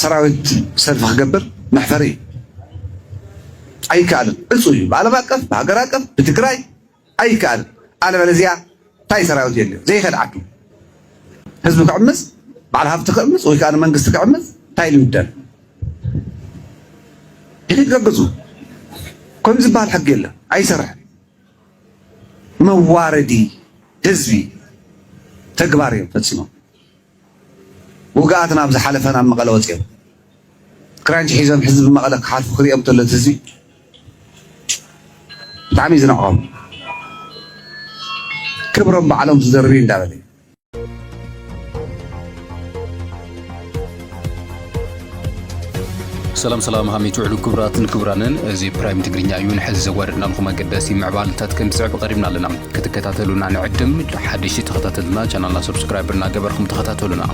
ሰራዊት ሰልፊ ክገብር መሕፈሪ እዩ። ኣይካኣልን ዕፁው እዩ ብኣለም ኣቀፍ ብሃገር ኣቀፍ ብትግራይ ኣይካኣልን ኣለበለዚያ ታይ ሰራዊት የድልዮ ዘይከድ ዓዱ ህዝቢ ክዕምፅ ባዓል ሃፍቲ ክዕምፅ ወይ ካዓ መንግስቲ ክዕምፅ ታይ ልውደል ድሕሪት ገግፁ ከምዚ ዝባሃል ሕጊ የለን ኣይሰርሕን መዋረዲ ህዝቢ ተግባር እዮም ፈፂሞም። ውግኣት ናብ ዝሓለፈ ናብ መቐለ ወፂኦም ክራንች ሒዞም ሕዚ ብመቐለ ክሓልፉ ክሪኦም ተሎ እቲ ህዝቢ ብጣዕሚ እዩ ዝንዕቆም ክብሮም ባዕሎም ዝደርብዩ እንዳበለ እዩ። ሰላም ሰላም ሃመይ ትውዕሉ ክቡራትን ክቡራንን እዚ ፕራይም ትግርኛ እዩ ንሕዚ ዘዋደድናልኩም ኣገዳሲ ምዕባልታት ክንስዕብ ቀሪብና ኣለና ክትከታተሉና ንዕድም ሓደሽቲ ተኸታተልና ቻናልና ሰብስክራይብ እናገበርኩም ተኸታተሉና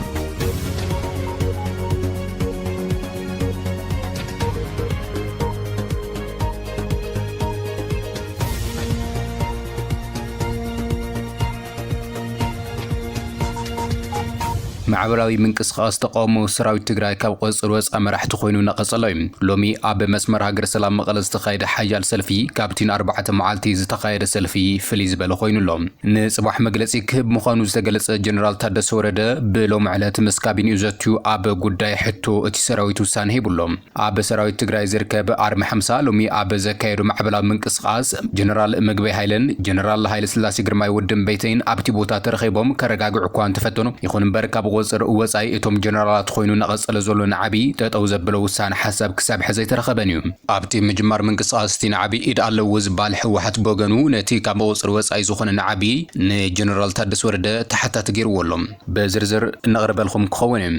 ማዕበላዊ ምንቅስቃስ ተቃውሞ ሰራዊት ትግራይ ካብ ቁፅፅር ወፃእ መራሕቲ ኮይኑ እናቀፀሎ ዩ። ሎሚ ኣብ መስመር ሃገር ሰላም መቐለ ዝተኻየደ ሓያል ሰልፊ ካብቲ ንኣርባዕተ መዓልቲ ዝተኻየደ ሰልፊ ፍልይ ዝበለ ኮይኑ ኣሎ። ንፅባሕ መግለፂ ክህብ ምዃኑ ዝተገለፀ ጀነራል ታደሰ ወረደ ብሎሚ ዕለት ምስ ካቢኒኡ ዘትዩ ኣብ ጉዳይ ሕቶ እቲ ሰራዊት ውሳነ ሂቡ ኣሎ። ኣብ ሰራዊት ትግራይ ዝርከብ ኣርሚ ሓምሳ ሎሚ ኣብ ዘካየዶ ማዕበላዊ ምንቅስቓስ ጀነራል ምግበይ ሃይለን ጀነራል ሃይለስላሴ ግርማይ ወዲ እምበይተይን ኣብቲ ቦታ ተረኺቦም ከረጋግዑ እኳ እንተፈተኑ ይኹን እምበር ካብ ቑፅር ወፃኢ እቶም ጀነራላት ኾይኑ ናቐፀለ ዘሎ ናዕቢ ጠጠው ዘብሎ ውሳነ ሓሳብ ክሳብ ሕዚ ኣይተረኸበን እዩ። ኣብቲ ምጅማር ምንቅስቓስ እቲ ናዕቢ ኢድ ኣለዎ ዝብሃል ህወሓት ብወገኑ ነቲ ካብ ቑፅር ወፃኢ ዝኾነ ናዕቢ ንጀነራል ታደሰ ወረደ ተሓታቲ ገይርዎ ኣሎ። ብዝርዝር እነቕርበልኹም ክኸውን እዩ።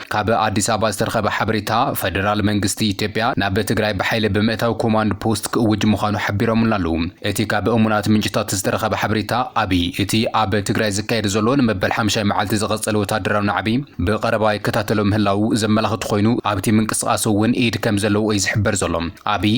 ካብ ኣዲስ ኣበባ ዝተረኸበ ሓበሬታ፣ ፈደራል መንግስቲ ኢትዮጵያ ናብ ትግራይ ብሓይሊ ብምእታው ኮማንድ ፖስት ክእውጅ ምዃኑ ሓቢሮምልና ኣለዉ። እቲ ካብ እሙናት ምንጭታት ዝተረኸበ ሓበሬታ፣ ኣብይ እቲ ኣብ ትግራይ ዝካየድ ዘሎ ንመበል ሓምሻይ መዓልቲ ዝቐጸለ ወተሃደራዊ ናዕቢ ብቐረባ ይከታተሎ ምህላዉ ዘመላኽት ኮይኑ፣ ኣብቲ ምንቅስቓስ'ውን ኢድ ከምዘለዎ'ዩ ዝሕበር ዘሎ። ኣብይ።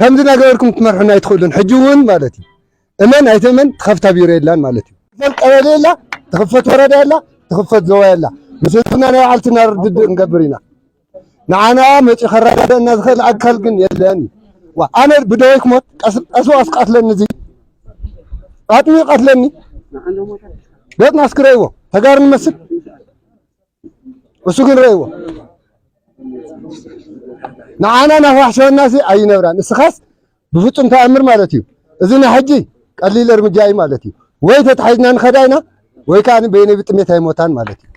ከምዚ ናገበርኩም ክትመርሑና ኣይትኽእሉን ሕጂ ውን ማለት እዩ እመን ኣይትእመን ትኸፍታ ቢሮ የላን ማለት እዩ። ትኽፈል ቀበሌ የላ ትኽፈት ወረዳ የላ ትኽፈት ዞባ የላ ምስ ህዝብና ናይ ባዕልትና ርድድእ ክንገብር ኢና ንዓና መጺኡ ከረዳድኣና ዝኽእል ኣካል ግን የለን እዩ ዋ ኣነ ብደወይ ክሞት ቀስ ቀስ ዋስ ቀትለኒ እዚ ኣጥሚዩ ቀትለኒ ገጽና ኣስክረይዎ ተጋሩ ንመስል እሱ ግን ረእዎ ንዓና ናዋሕሸወናሲ ኣይነብራን እስኻስ ብፍፁም ተኣምር ማለት እዩ እዚ ናይ ሕጂ ቀሊል እርምጃ እዩ ማለት እዩ ወይ ተታሒዝና ንኸዳ ኢና ወይ ከዓ በይነይ ብጥሜት ኣይሞታን ማለት እዩ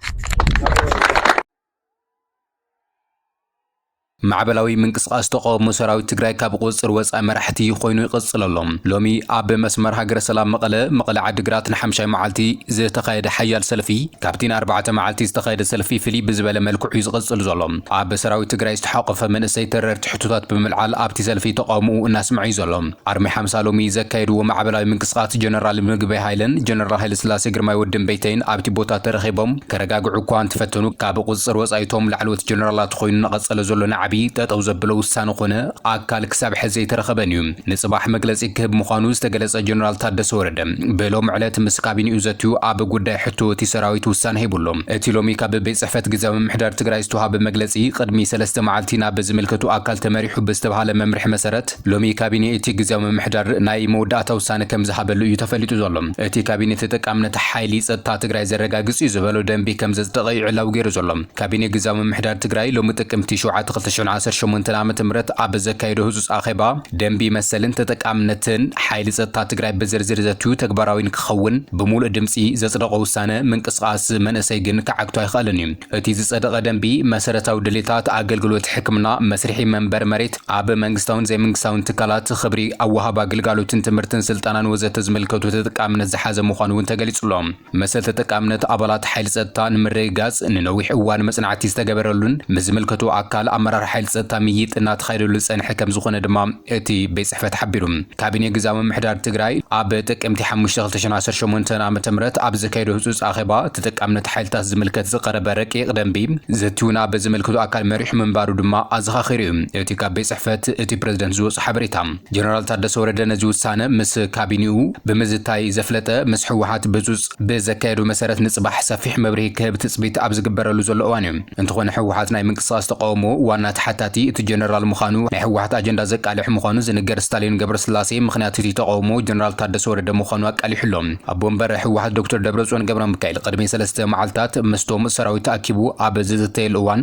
ማዕበላዊ ምንቅስቓስ ተቓውሞ ሰራዊት ትግራይ ካብ ቁፅፅር ወፃኢ መራሕቲ ኮይኑ ይቕፅል ኣሎ። ሎሚ ኣብ መስመር ሃገረ ሰላም መቐለ፣ መቐለ ዓዲግራት ንሓምሻይ መዓልቲ ዝተኻየደ ሓያል ሰልፊ ካብቲ ንኣርባዕተ መዓልቲ ዝተኻየደ ሰልፊ ፍልይ ብዝበለ መልክዑ ዩ ዝቕፅል ዘሎ። ኣብ ሰራዊት ትግራይ ዝተሓቖፈ መንእሰይ ተረርቲ ሕቶታት ብምልዓል ኣብቲ ሰልፊ ተቓውምኡ እናስመዐ ዩ ዘሎ። ኣርሚ ሓምሳ ሎሚ ዘካየድዎ ማዕበላዊ ምንቅስቓስ ጀነራል ምግበይ ሃይለን ጀነራል ሃይለስላሴ ግርማይ ወዲ እምበይተይን ኣብቲ ቦታ ተረኺቦም ከረጋግዑ እኳ እንተፈተኑ ካብ ቁፅፅር ወፃኢ እቶም ላዕለዎት ጀነራላት ኾይኑ እናቐፀለ ዘሎ ናዕቢ ጠጠው ዘብሎ ውሳነ ኾነ ኣካል ክሳብ ሕዚ ዘይተረኸበን እዩ። ንፅባሕ መግለፂ ክህብ ምዃኑ ዝተገለፀ ጀነራል ታደሰ ወረደ ብሎሚ ዕለት ምስ ካቢኒኡ ዘትዩ ኣብ ጉዳይ ሕቶ እቲ ሰራዊት ውሳነ ሂቡ ኣሎ። እቲ ሎሚ ካብ ቤት ፅሕፈት ግዝያዊ ምምሕዳር ትግራይ ዝተውሃበ መግለፂ ቅድሚ ሰለስተ መዓልቲ ናብ ዝምልከቶ ኣካል ተመሪሑ ብዝተብሃለ መምርሒ መሰረት ሎሚ ካቢኔ እቲ ግዝያዊ ምምሕዳር ናይ መወዳእታ ውሳነ ከምዝሃበሉ እዩ ተፈሊጡ ዘሎ። እቲ ካቢኔ ተጠቃምነት ሓይሊ ፀጥታ ትግራይ ዘረጋግፅ እዩ ዝበሎ ደንቢ ከምዘፅደቐ እዩ ዕላዊ ገይሩ ዘሎ። ካቢኔ ግዝያዊ ምምሕዳር ትግራይ ሎሚ ጥቅምቲ ሸውዓተ ክልተ ሽሕን ዓሰርተ ሸሞንተን ዓመተ ምህረት ኣብ ዘካየዶ ህፁፅ ኣኼባ ደንቢ መሰልን ተጠቃምነትን ሓይሊ ፀጥታ ትግራይ ብዝርዝር ዘትዩ ተግባራዊ ንክኸውን ብሙሉእ ድምፂ ዘፅደቖ ውሳነ ምንቅስቓስ መንእሰይ ግን ክዓግቶ ኣይኸኣለን እዩ። እቲ ዝፀደቐ ደንቢ መሰረታዊ ድሌታት ኣገልግሎት ሕክምና፣ መስርሒ መንበሪ መሬት፣ ኣብ መንግስታውን ዘይመንግስታውን ትካላት ኽብሪ ኣብ ወሃባ ግልጋሎትን ትምህርትን ስልጠናን ወዘተ ዝምልከቱ ተጠቃምነት ዝሓዘ ምዃኑ እውን ተገሊፁ ኣሎ። መሰል ተጠቃምነት ኣባላት ሓይሊ ፀጥታ ንምርግጋፅ ንነዊሕ እዋን መፅናዕቲ ዝተገበረሉን ምስ ዝምልከቶ ኣካል ኣመራርሓ ሓይሊ ፀጥታ ምይይጥ እናተኻየደሉ ዝፀንሐ ከምዝኾነ ድማ እቲ ቤት ፅሕፈት ሓቢሩ። ካቢኔ ግዝያዊ ምምሕዳር ትግራይ ኣብ ጥቅምቲ ሓሙሽተ ክልተ ሽሕን ዓሰርተ ሸሞንተን ዓመተ ምህረት ኣብ ዘካየዶ ህፁፅ ኣኼባ ተጠቃምነት ሓይልታት ዝምልከት ዝቐረበ ረቂቕ ደንቢ ዘትዩ ናብ ዝምልክቶ ኣካል መሪሑ ምንባሩ ድማ ኣዘኻኺሩ እዩ እቲ ካብ ቤት ፅሕፈት እቲ ፕረዚደንት ዝወፆ ሓበሬታ። ጀነራል ታደሰ ወረደ ነዚ ውሳነ ምስ ካቢኔኡ ብምዝታይ ዘፍለጠ ምስ ህወሓት ብፁፅ ብዘካየዶ መሰረት ንፅባሕ ሰፊሕ መብርሂ ክህብ ትፅቢት ኣብ ዝግበረሉ ዘሎ እዋን እዩ። እንተኾነ ህወሓት ናይ ምንቅስቓስ ተቓውሞ ዋና ተሓታቲ እቲ ጀነራል ምዃኑ ናይ ህወሓት ኣጀንዳ ዘቃልሕ ምዃኑ ዝንገር ስታሊን ገብረስላሴ ምኽንያት እቲ ተቓውሞ ጀነራል ታደሰ ወረደ ምዃኑ ኣቃሊሑ ኣሎ። ኣቦ ወንበር ህወሓት ዶክተር ደብረፅዮን ገብረሚካኤል ቅድሚ ሰለስተ መዓልታት ምስቶም ሰራዊት ተኣኪቡ ኣብ ዝዘተየሉ እዋን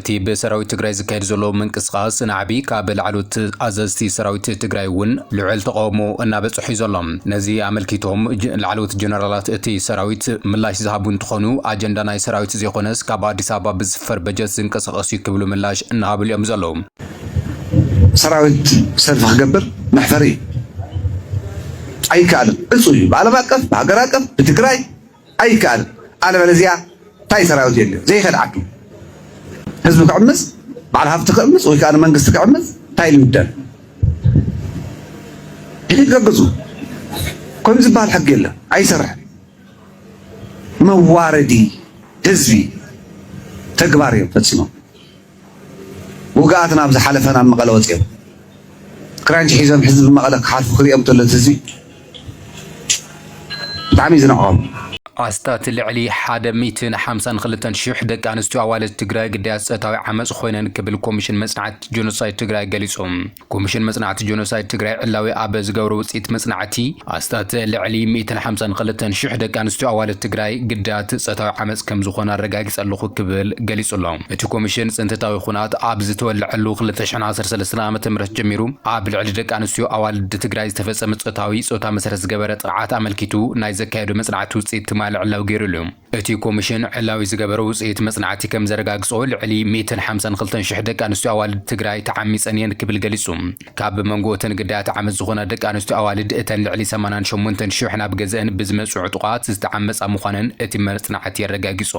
እቲ ብሰራዊት ትግራይ ዝካየድ ዘሎ ምንቅስቓስ ናዕቢ ካብ ላዕለዎት ኣዘዝቲ ሰራዊት ትግራይ እውን ልዑል ተቓውሞ እናበፀሖ እዩ ዘሎ። ነዚ ኣመልኪቶም ላዕለዎት ጀነራላት እቲ ሰራዊት ምላሽ ዝሃቡ እንትኾኑ፣ ኣጀንዳ ናይ ሰራዊት ዘይኾነስ ካብ ኣዲስ ኣበባ ብዝስፈር በጀት ዝንቀሳቐስ እዩ ክብሉ ምላሽ እናሃብሉ እዮም ዘለዉ። ሰራዊት ሰልፊ ክገብር መሕፈሪ እዩ። ኣይከኣልን። ዕፁው እዩ። ብዓለም ኣቀፍ፣ ብሃገር ኣቀፍ፣ ብትግራይ፣ ኣይከኣል ኣለበለዚያ ታይ ሰራዊት የድልዮ ዘይከድ ዓዱ ህዝቢ ክዕምፅ በዓል ሃፍቲ ክዕምፅ ወይ ከዓ ንመንግስቲ ክዕምፅ ታይ ኢሉ ይብደል ሕጊ ገግፁ ከምዚ ዝበሃል ሕጊ የለን ኣይሰርሕን መዋረዲ ህዝቢ ተግባር እዮም ፈፂሞም ውግኣት ናብ ዝሓለፈ ናብ መቐለ ወጺኦም ክራንች ሒዞም ሕዚ ብመቐለ ክሓልፉ ክሪኦም ተሎ እቲ ህዝቢ ብጣዕሚ እዩ ዝንዕቆም። ኣስታት ልዕሊ ሓደ ሚእትን ሓምሳን ክልተን ሽሕ ደቂ ኣንስትዮ ኣዋልድ ትግራይ ግዳያት ፆታዊ ዓመፅ ኾይነን ክብል ኮሚሽን መፅናዕቲ ጆኖሳይድ ትግራይ ገሊፁ። ኮሚሽን መጽናዕቲ ጆኖሳይድ ትግራይ ዕላዊ ኣብ ዝገብሮ ውጽኢት መጽናዕቲ፣ ኣስታት ልዕሊ ሚእትን ሓምሳን ክልተን ሽሕ ደቂ ኣንስትዮ ኣዋልድ ትግራይ ግዳያት ጸታዊ ዓመጽ ከም ዝኾና ኣረጋጊጸ ኣለኹ ክብል ገሊጹ ኣሎ። እቲ ኮሚሽን ጽንተታዊ ኩናት ኣብ ዝተወለዐሉ ክልተ ሽሕን ዓሰርተ ሰለስተን ዓመተ ምህረት ጀሚሩ ኣብ ልዕሊ ደቂ ኣንስትዮ ኣዋልድ ትግራይ ዝተፈጸመ ጾታዊ ጾታ መሰረት ዝገበረ ጥቕዓት ኣመልኪቱ ናይ ዘካየዶ መጽናዕቲ ውጽኢት ትማሊ ዕላዊ ገይሩሉ እዩ። እቲ ኮሚሽን ዕላዊ ዝገበረ ውፅኢት መፅናዕቲ ከምዘረጋግፆ ልዕሊ ሚእትን ሓምሳን ኽልተን ሽሕ ደቂ ኣንስትዮ ኣዋልድ ትግራይ ተዓሚፀን እየን ክብል ገሊፁ። ካብ መንጎ እተን ግዳያት ዓመፅ ዝኾና ደቂ ኣንስትዮ ኣዋልድ እተን ልዕሊ ሰማንያን ሸሞንተን ሽሕ ናብ ገዘእን ብዝመፅኡ ዕጡቓት ዝተዓመፃ ምዃነን እቲ መፅናዕቲ ኣረጋጊፆ።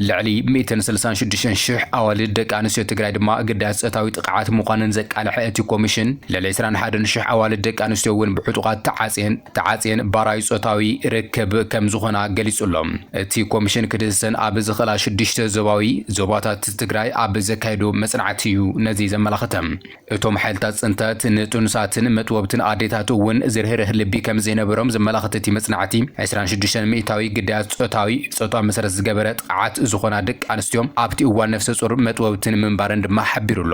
ልዕሊ ሚእትን ስልሳን ሽዱሽተን ሽሕ ኣዋልድ ደቂ ኣንስትዮ ትግራይ ድማ ግዳያት ፆታዊ ጥቕዓት ምዃነን ዘቃለሐ እቲ ኮሚሽን ልዕሊ ዕስራን ሓደን ሽሕ ኣዋልድ ደቂ ኣንስትዮ እውን ብዕጡቓት ተዓፅየን ተዓጽየን ባራዩ ጾታዊ ርክብ ከም ዝኾና ገሊጹ'ሎ። እቲ ኮሚሽን ክድህሰን ኣብ ዝኽእላ ሽዱሽተ ዞባዊ ዞባታት ትግራይ ኣብ ዘካየዶ መጽናዕቲ'ዩ ነዚ ዘመላኽተ። እቶም ሓይልታት ጽንተት ንጥኑሳትን መጥቦብትን ኣዴታት እውን ዝርህርህ ልቢ ከም ዘይነበሮም ዘመላኽት እቲ መጽናዕቲ፣ ዕስራን ሽዱሽተን ሚእታዊ ግዳያት ጾታዊ ጾታ መሰረት ዝገበረ ጥቕዓት ዝኾና ደቂ ኣንስትዮ ኣብቲ እዋን ነፍሰጾር መጥቦብትን ምንባረን ድማ ሓቢሩ'ሎ።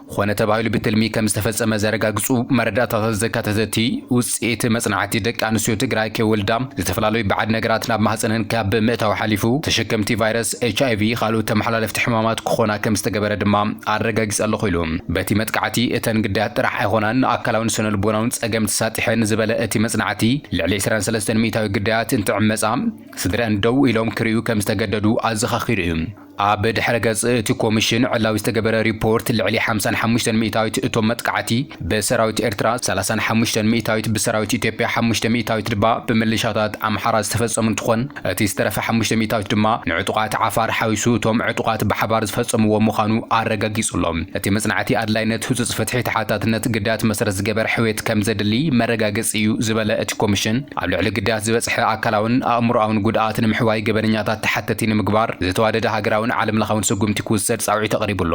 ኾነ ተባሂሉ ብትልሚ ከም ዝተፈፀመ ዘረጋግፁ መረዳእታታት ዘካተተቲ ውፅኢት መፅናዕቲ ደቂ ኣንስትዮ ትግራይ ከይወልዳ ዝተፈላለዩ ባዕድ ነገራት ናብ ማህፀነን ካብ ምእታው ሓሊፉ ተሸከምቲ ቫይረስ ኤችኣይቪ ኻልኦት ተመሓላለፍቲ ሕማማት ክኾና ከም ዝተገበረ ድማ ኣረጋጊፀ ኣለኹ ኢሉ። በቲ መጥቃዕቲ እተን ግዳያት ጥራሕ ኣይኾናን ኣካላውን ስነልቦናውን ፀገም ተሳጢሐን ዝበለ እቲ መፅናዕቲ ልዕሊ ዕስራን ሰለስተን ሚእታዊ ግዳያት እንትዕመፃ ስድረኣን ደው ኢሎም ክሪኡ ከም ዝተገደዱ ኣዘኻኺሩ እዩ። ኣብ ድሕረ ገጽ እቲ ኮሚሽን ዕላዊ ዝተገበረ ሪፖርት ልዕሊ ሓምሳን ሓሙሽተን ሚእታዊት እቶም መጥቓዕቲ ብሰራዊት ኤርትራ፣ ሰላሳን ሓሙሽተን ሚእታዊት ብሰራዊት ኢትዮጵያ፣ ሓሙሽተ ሚእታዊት ድባ ብምልሻታት ኣምሓራ ዝተፈጸሙ እንትኾን እቲ ዝተረፈ ሓሙሽተ ሚእታዊት ድማ ንዕጡቓት ዓፋር ሓዊሱ እቶም ዕጡቓት ብሓባር ዝፈጸምዎ ምዃኑ ኣረጋጊጹ ኣሎ። እቲ መጽናዕቲ ኣድላይነት ህጹጽ ፍትሒ ተሓታትነት ግዳያት መሰረት ዝገበረ ሕውየት ከምዘድሊ መረጋገጺ እዩ ዝበለ እቲ ኮሚሽን፣ ኣብ ልዕሊ ግዳያት ዝበፅሐ ኣካላውን ኣእምሮኣውን ጉድኣት ንምሕዋይ ገበነኛታት ተሓተቲ ንምግባር ዝተዋደደ ሃገራውን ዓለም ለኻውን ስጉምቲ ክውሰድ ፃውዒት ኣቕሪቡ ኣሎ።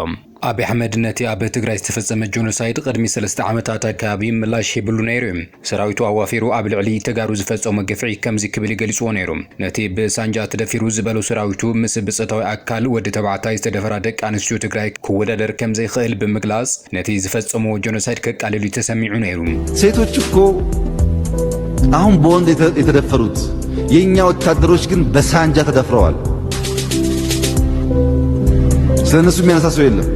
ኣብይ ኣሕመድ ነቲ ኣብ ትግራይ ዝተፈፀመ ጆኖሳይድ ቕድሚ ሰለስተ ዓመታት ኣከባቢ ምላሽ ሂብሉ ነይሩ ዩ። ሰራዊቱ ኣዋፊሩ ኣብ ልዕሊ ተጋሩ ዝፈፀሞ ግፍዒ ከምዚ ክብል ዩ ገሊፅዎ ነይሩ። ነቲ ብሳንጃ ተደፊሩ ዝበሎ ሰራዊቱ ምስ ብፀታዊ ኣካል ወዲ ተባዕታይ ዝተደፈራ ደቂ ኣንስትዮ ትግራይ ክወዳደር ከም ዘይክእል ብምግላጽ፣ ነቲ ዝፈጸምዎ ጀኖሳይድ ከቃልል እዩ ተሰሚዑ ነይሩ። ሴቶች እኮ አሁን በወንድ የተደፈሩት የእኛ ወታደሮች ግን በሳንጃ ተደፍረዋል። ስለ እነሱ የሚያነሳ ሰው የለም።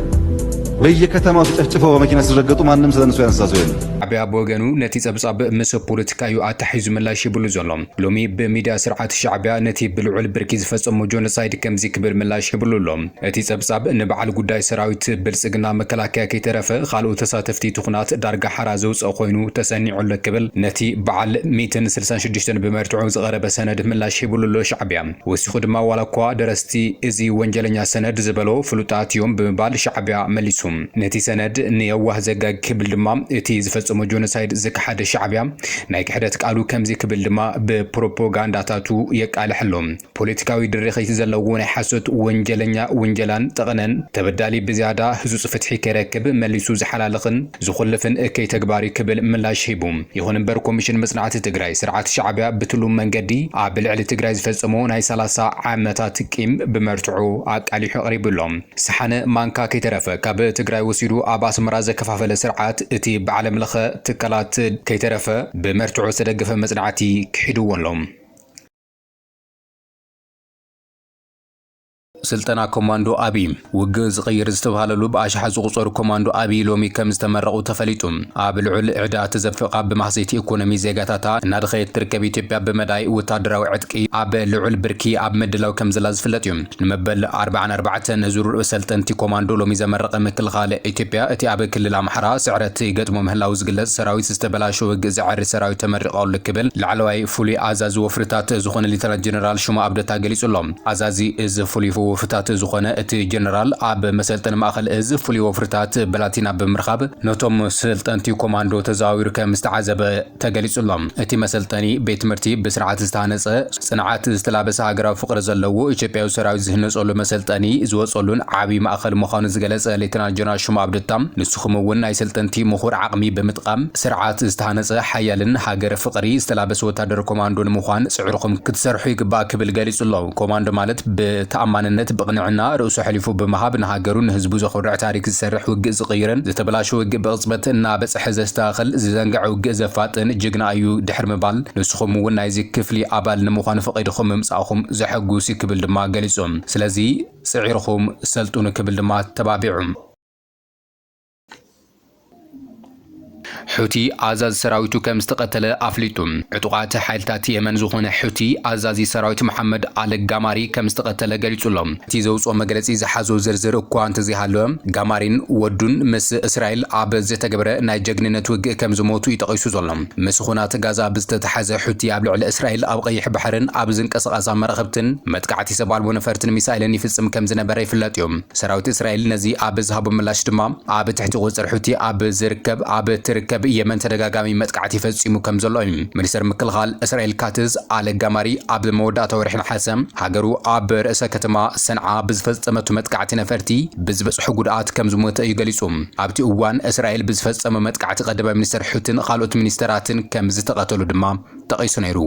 በየከተማው ተጨፍጭፈው በመኪና ሲረገጡ ማንም ስለ እነሱ ያነሳ ሰው የለም። ዓብያ ብወገኑ ነቲ ጸብጻብ ምስ ፖለቲካ እዩ ኣታሒዙ ምላሽ ይብሉ ዘሎ። ሎሚ ብሚድያ ስርዓት ሻዕብያ ነቲ ብልዑል ብርኪ ዝፈጸሞ ጆኖሳይድ ከምዚ ክብል ምላሽ ይብሉ ኣሎ። እቲ ጸብጻብ ንበዓል ጉዳይ ሰራዊት ብልጽግና መከላከያ ከይተረፈ ኻልኦት ተሳተፍቲ እቲ ኹናት ዳርጋ ሓራ ዘውጽእ ኾይኑ ተሰኒዑ ኣሎ ክብል ነቲ በዓል ሚእትን ስልሳን ሽዱሽተን ብመርትዖ ዝቐረበ ሰነድ ምላሽ ሂብሉ ኣሎ ሻዕቢያ ወሲኹ ድማ ዋላኳ ደረስቲ እዚ ወንጀለኛ ሰነድ ዝበሎ ፍሉጣት እዮም ብምባል ሻዕቢያ መሊሱ ነቲ ሰነድ ንየዋህ ዘጋጊ ክብል ድማ እቲ ዝፈጸሞ ጆኖሳይድ ዝከሓደ ሻዕቢያ ናይ ክሕደት ቃሉ ከምዚ ክብል ድማ ብፕሮፖጋንዳታቱ የቃልሕ ኣሎ። ፖለቲካዊ ድርኺት ዘለዎ ናይ ሓሶት ወንጀለኛ ውንጀላን ጠቐነን፣ ተበዳሊ ብዝያዳ ህጹጽ ፍትሒ ከይረክብ መሊሱ ዝሓላልኽን ዝኹልፍን እከይ ተግባር'ዩ ክብል ምላሽ ሂቡ። ይኹን እምበር ኮሚሽን መጽናዕቲ ትግራይ፣ ስርዓት ሻዕቢያ ብትሉም መንገዲ ኣብ ልዕሊ ትግራይ ዝፈጸሞ ናይ ሰላሳ ዓመታት ቂም ብመርትዖ ኣቃሊሑ ኣቕሪቡ ኣሎ። ሰሓነ ማንካ ከይተረፈ ካብ ትግራይ ወሲዱ ኣብ ኣስመራ ዘከፋፈለ ስርዓት፣ እቲ ብዓለምለኸ ትካላት ከይተረፈ ብመርትዖ ዝተደገፈ መጽናዕቲ ክሒድዎ ኣሎ። ስልጠና ኮማንዶ ኣብይ ውግእ ዝቕይር ዝተብሃለሉ ብኣሽሓት ዝቑፀሩ ኮማንዶ ኣብይ ሎሚ ከም ዝተመረቑ ተፈሊጡ። ኣብ ልዑል ዕዳ ተዘፊቓ ብማህሰይቲ ኢኮኖሚ ዜጋታታ እናደኸየት ትርከብ ኢትዮጵያ ብመዳይ ወታደራዊ ዕጥቂ ኣብ ልዑል ብርኪ ኣብ ምድላው ከምዘላ ዝፍለጥ እዩ። ንመበል ኣርብዓን ኣርባዕተን ዙር ሰልጠንቲ ኮማንዶ ሎሚ ዘመረቐ ምክልኻል ኢትዮጵያ፣ እቲ ኣብ ክልል ኣምሓራ ስዕረት ይገጥሞ ምህላዉ ዝግለጽ ሰራዊት ዝተበላሸወ ውግእ ዘዐሪ ሰራዊት ተመሪቑ ኣሉ ክብል ላዕለዋይ ፍሉይ ኣዛዚ ወፍርታት ዝኾነ ሌተናል ጀነራል ሹማ ኣብደታ ገሊጹ ኣሎ። ኣዛዚ እዝ ፍሉይ ወፍርታት ዝኾነ እቲ ጀነራል፣ ኣብ መሰልጠኒ ማእኸል እዝ ፍሉይ ወፍርታት ብላቲና ብምርካብ ነቶም ሰልጠንቲ ኮማንዶ ተዘዋዊሩ ከም ዝተዓዘበ ተገሊጹ'ሎ። እቲ መሰልጠኒ ቤት ትምህርቲ ብስርዓት ዝተሃነጸ፣ ጽንዓት ዝተላበሰ ሃገራዊ ፍቕሪ ዘለዎ ኢትዮጵያዊ ሰራዊት ዝህነጸሉ መሰልጠኒ ዝወጸሉን ዓቢ ማእኸል ምዃኑ ዝገለጸ ሌተናል ጀነራል ሹማ ኣብደታ ንስኹም'ውን ናይ ሰልጠንቲ ምኹር ዓቕሚ ብምጥቓም ስርዓት ዝተሃነጸ ሓያልን ሃገር ፍቕሪ ዝተላበሰ ወታደር ኮማንዶ ንምዃን ጽዕርኹም ክትሰርሑ ይግባእ ክብል ገሊጹ'ሎ። ኮማንዶ ማለት ብተኣማንነት ብቕንዕና ርእሱ ኣሕሊፉ ብምሃብ ንሃገሩን ንህዝቡ ዘኹርዕ ታሪክ ዝሰርሕ ውግእ ዝቕይርን ዝተበላሸወ ውግእ ብቕጽበት እናበጸሐ ሕ ዘስተኻኽል፣ ዝዘንገዐ ውግእ ዘፋጥን ጅግና እዩ ድሕሪ ምባል፣ ንስኹም እውን ናይዚ ክፍሊ ኣባል ንምዃን ፈቒድኹም ምምጻእኹም ዘሐጉስ እዩ ክብል ድማ ገሊጹ። ስለዚ ጽዒርኹም ሰልጥኑ ክብል ድማ ኣተባቢዑ። ሑቲ ኣዛዚ ሰራዊቱ ከም ዝተቐተለ ኣፍሊጡ። ዕጡቓት ሓይልታት የመን ዝኾነ ሑቲ ኣዛዚ ሰራዊት መሓመድ ኣል ጋማሪ ከም ዝተቐተለ ገሊጹ'ሎ። እቲ ዘውጽኦ መግለጺ ዝሓዞ ዝርዝር እኳ እንተዘይሃለወ፣ ጋማሪን ወዱን ምስ እስራኤል ኣብ ዝተገበረ ናይ ጀግንነት ውግእ ከምዝሞቱ'ዩ ጠቒሱ ዘሎ። ምስ ኹናት ጋዛ ብዝተተሓሓዘ ሑቲ ኣብ ልዕሊ እስራኤል ኣብ ቐይሕ ባሕርን ኣብ ዝንቀሳቐሳ መራኽብትን መጥቃዕቲ ሰብ ኣልቦ ነፈርትን ሚሳይልን ይፍጽም ከምዝነበረ ይፍለጥ'ዩ። ሰራዊት እስራኤል ነዚ ኣብ ዝሃቦ ምላሽ ድማ ኣብ ትሕቲ ቁጽጽር ሑቲ ኣብ ዝርከብ ኣብ ትርከብ የመን ተደጋጋሚ መጥቃዕቲ ፈጺሙ ከምዘሎ'ዩ። ሚኒስተር ምክልኻል እስራኤል ካትዝ ኣል-ጋማሪ ኣብ መወዳእታ ወርሒ ነሓሰ፣ ሃገሩ ኣብ ርእሰ ከተማ ሰንዓ ብዝፈጸመቶ መጥቃዕቲ ነፈርቲ ብዝበጽሖ ጉድኣት ከም ዝሞተ እዩ ገሊጹ። ኣብቲ እዋን እስራኤል ብዝፈጸሞ መጥቃዕቲ ቀዳማይ ሚኒስተር ሑቲን ካልኦት ሚኒስተራትን ከም ዝተቐተሉ ድማ ጠቒሱ ነይሩ።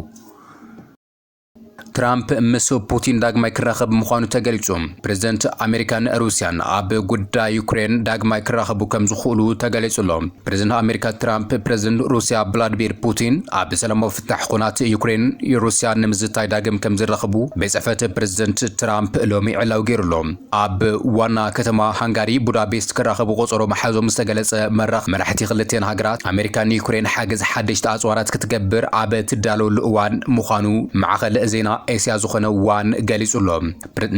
ትራምፕ ምስ ፑቲን ዳግማይ ክራኸብ ምዃኑ ተገሊጹ። ፕረዚደንት ኣሜሪካን ሩስያን ኣብ ጉዳይ ዩክሬን ዳግማይ ክራኸቡ ከም ዝኽእሉ ተገሊጹ ኣሎ። ፕረዚደንት ኣሜሪካ ትራምፕ ፕረዚደንት ሩስያ ቭላድሚር ፑቲን ኣብ ሰላማዊ ጋሕ ኹናት ዩክሬን ሩስያን ንምዝታይ ዳግም ከምዝራኸቡ ቤት ጽሕፈት ፕረዚደንት ትራምፕ ሎሚ ዕላዊ ገይሩ ኣሎ። ኣብ ዋና ከተማ ሃንጋሪ ቡዳፔስት ክራኸቡ ቆጸሮ ምሓዞም ዝተገለጸ መራኽ መራሕቲ ክልቲኤን ሃገራት፣ ኣመሪካ ንዩክሬን ሓገዝ ሓደሽቲ ኣጽዋራት ክትገብር ኣብ ትዳለወሉ እዋን ምዃኑ ማዕኸን ዜና ኤስያ ዝኾነ ዋን ገሊጹ ኣሎ።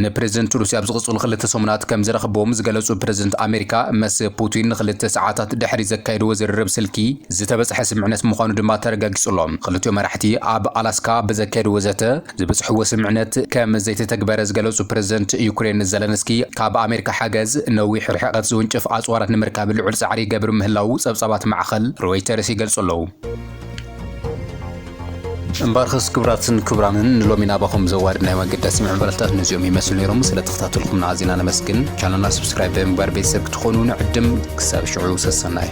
ንፕረዚደንት ሩስያ ኣብ ዝቕፅሉ ክልተ ሰሙናት ከም ዝረኽብዎም ዝገለፁ ፕረዚደንት ኣሜሪካ መስ ፑቲን ንክልተ ሰዓታት ድሕሪ ዘካየድዎ ዝርርብ ስልኪ ዝተበፅሐ ስምዕነት ምዃኑ ድማ ተረጋጊፁ ኣሎ። ክልቲኦም መራሕቲ ኣብ ኣላስካ ብዘካየድዎ ዘተ ዝበፅሕዎ ስምዕነት ከም ዘይተተግበረ ዝገለፁ ፕረዚደንት ዩክሬን ዘለንስኪ ካብ ኣሜሪካ ሓገዝ ነዊሕ ርሕቐት ዝውንጭፍ ኣፅዋራት ንምርካብ ልዑል ፃዕሪ ይገብር ምህላዉ ፀብፃባት ማዕኸን ሮይተርስ ይገልፁ ኣለዉ። እምበኣርክስ ክብራትን ክብራንን ንሎሚ ናባኹም ዘዋድናዮ ኣገዳሲ ምዕባለታት ነዚኦም ይመስሉ ነይሮም። ስለ ተኸታተልኩምና ኣዚና ነመስግን። ቻነልና ስብስክራይብ ብምግባር ቤተሰብ ክትኾኑ ንዕድም። ክሳብ ሽዑ ሰሰናዩ።